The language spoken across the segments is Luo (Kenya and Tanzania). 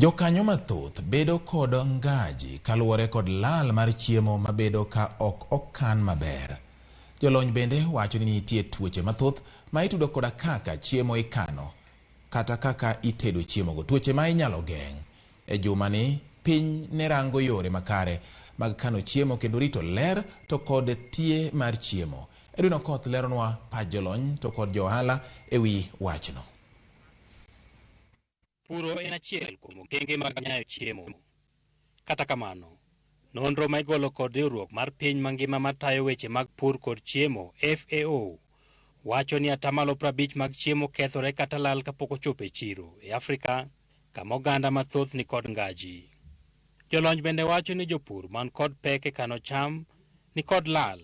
Jokanyo mathoth bedo kod ngaji kaluwore kod lal mar chiemo mabedo ka ok okan maber. Jolony bende wacho ni nitie tuoche mathoth ma itudo koda kaka chiemo ikano kata kaka itedo chiemogo. Tuoche ma inyalo geng'. E jumani, piny ne rango yore makare mag kano chiemo kendo rito ler to kod tie mar chiemo. Edwin Okoth leronwa pach jolony to kod jo ohala e wi wachno. Puro en achiel kuom okenge mag nyayo chiemo. Kata kamano, nonro ma igolo kod riwruok mar piny mangima matayo weche mag pur kod chiemo, FAO, wacho ni atamalo 50 mag chiemo kethore kata lal kapok ochopo e chiro e Afrika, kama oganda mathoth ni kod ngaji. Jolony bende wacho ni jopur man kod pek e kano cham ni kod lal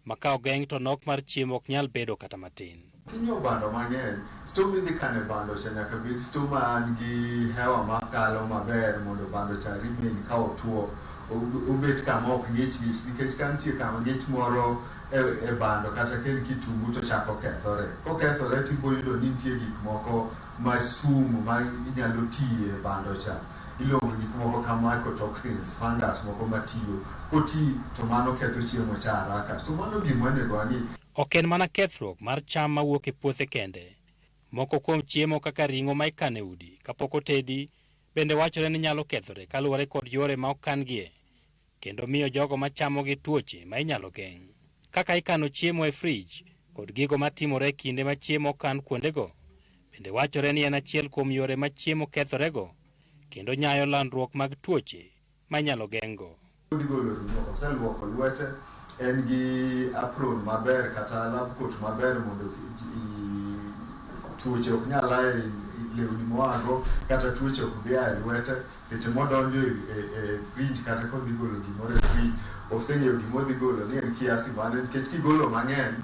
ma ka ogeng' to nok mar chiemo ok nyal bedo kata matin. Kinyo bando mang'eny, sto midhi kane bando cha nyaka bed sto man gi hewa makalo maber mondo bando cha remain ka otuo obet kama ok ng'ich ng'ich nikech ka nitie kama ng'ich moro e, e bando kata ka en kitungu to chako kethore. Kokethore to iboyudo ni nitie gik moko ma sum ma inyalo tiye e bando cha. iluongo gik moko ka mycotoxins, fungus moko matiyo koti to mano ketho chiemo cha haraka. So mano gima onego wang'i. Ok en mana kethruok mar cham mawuok e puothe kende. Moko kuom chiemo kaka ring'o ma ikano e udi kapok otedi bende wachore ni nyalo kethore kaluwore kod yore ma okan-gie. kendo miyo jogo ma chamogi tuoche ma inyalo geng'. Kaka ikano chiemo e frij kod gigo ma timore e kinde ma chiemo okan kuondego, bende wachore ni en achiel kuom yore ma chiemo kethorego kendo nyayo landruok mag tuoche ma inyalo geng'go. Gigolo ring'o, oselwoko lwete, en gi apron maber kata lab coat maber mondo tuoche ok nyal a e lewni moago kata tuoche ok bi a e lwete. seche modonjo e, e, e fridge kata kodhi golo gimoro e fridge oseng'eyo gima odhi golo ni en kiasi mane nikech kigolo mang'eny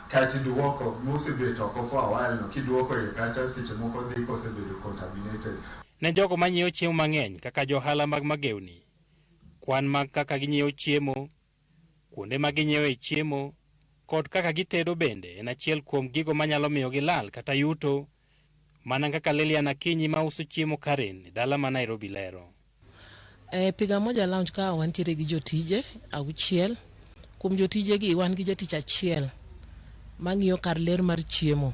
kaeto iduoko mosebet oko for a while no kiduoko iye kacha seche moko dhi kosebedo contaminated Ne jogo ma nyiewo chiemo mang'eny kaka johala mag magewni, kwan mag kaka ginyiewo chiemo, kuonde ma ginyiewoe chiemo, kod kaka gitedo bende en achiel kuom gigo manyalo miyo gilal kata yuto Mana kaka Lilian Akinyi ma uso chiemo Karen e dala ma Nairobi lero. E Piga Moja Lounge ka wantiere gi jotije auchiel. Kuom jotijegi wan gi jatich achiel mang'iyo kar ler mar chiemo.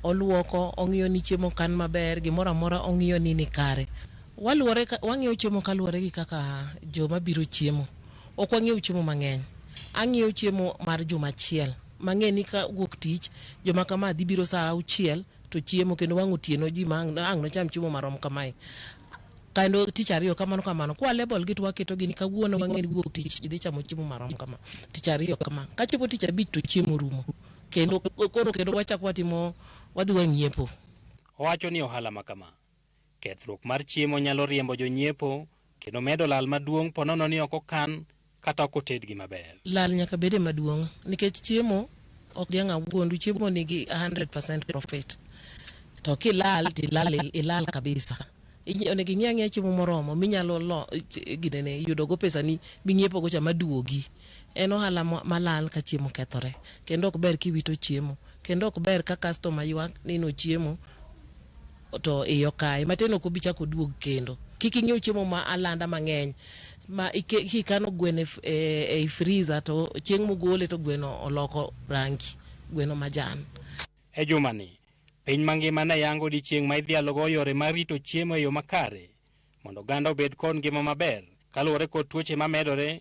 Oluoko, ong'iyo ni chiemo okan maber, gimoro amora ong'iyo ni ni kare. Waluwore ka, wang'iewo chiemo kaluwore gi kaka joma biro chiemo. Ok wang'iew chiemo mang'eny. Ang'iewo chiemo mar juma achiel. mang'e ni ka wuok tich joma kama dhi biro saa auchiel to chiemo kendo wang' otieno ji ma ang' ang' nocham chiemo marom kamae kendo tich ariyo kamano kamano kwa level gi to waketo gini kawuono wang'e ni wuok tich ji dhi chamo chiemo marom kama tich ariyo kama kachopo tich abich to chiemo rumo kendo koro kendo wachak watimo wadhi wang'iepo Owacho ni ohala ma kama Kethruok mar chiemo nyalo riembo jonyiepo kendo medo lal maduong' ponono ni ok okan kata ok otedgi maber. Lal nyaka bede maduong' nikech chiemo ok diang' awuondu, chiemo nigi 100% profit. To kilal to ilal, ilal kabisa. Inyi- Onego ing'i ang'iya chiemo moromo minyalo lo, ch- ginene, yudogo pesani ming'iepogo cha maduogi. En ohala ma- malal ka chiemo kethore. Kendo ok ber kiwito chiemo. Kendo ok ber ka customer ywak ni nochiemo to iye okaye matin ok obi chako oduog kendo. Kik ing'iew chiemo ma alanda mang'eny ma ike- kikano gweno e f- e e friza to chieng' mogole to gweno oloko rangi gweno majan. E jumani, piny mangima ne yango odiechieng' ma idhialogo yore mar rito chiemo e yo makare mondo oganda obed kod ngima maber kaluwore kod tuoche mamedore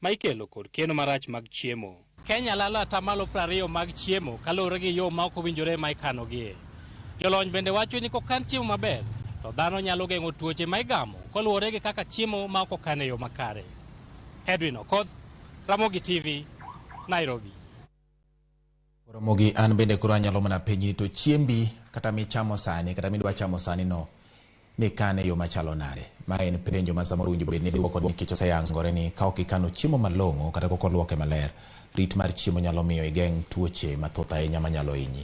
ma ikelo kod keno marach mag chiemo. Kenya lalo atamalo prariyo mag chiemo kaluwore gi yo ma ok owinjore ma ikanogie. Jolony bende wacho ni kokan chiemo maber to dhano nyalo geng'o tuoche ma igamo koluwore gi kaka chiemo ma ok okan e yo makare. Edwin Okoth, Ramogi TV, Nairobi. Ramogi an bende koro anyalo mana penyi to chiembi kata michamo sani kata midwa chamo sani no ni kane yo machalo nade? Ma en penjo ma samoro winjo bed ni dwoko nikech oseyangore ni ka ok ikano chiemo malong'o kata kok olwoke maler, rit mar chiemo nyalo miyo igeng' tuoche mathoth ahinya manyalo hinyi.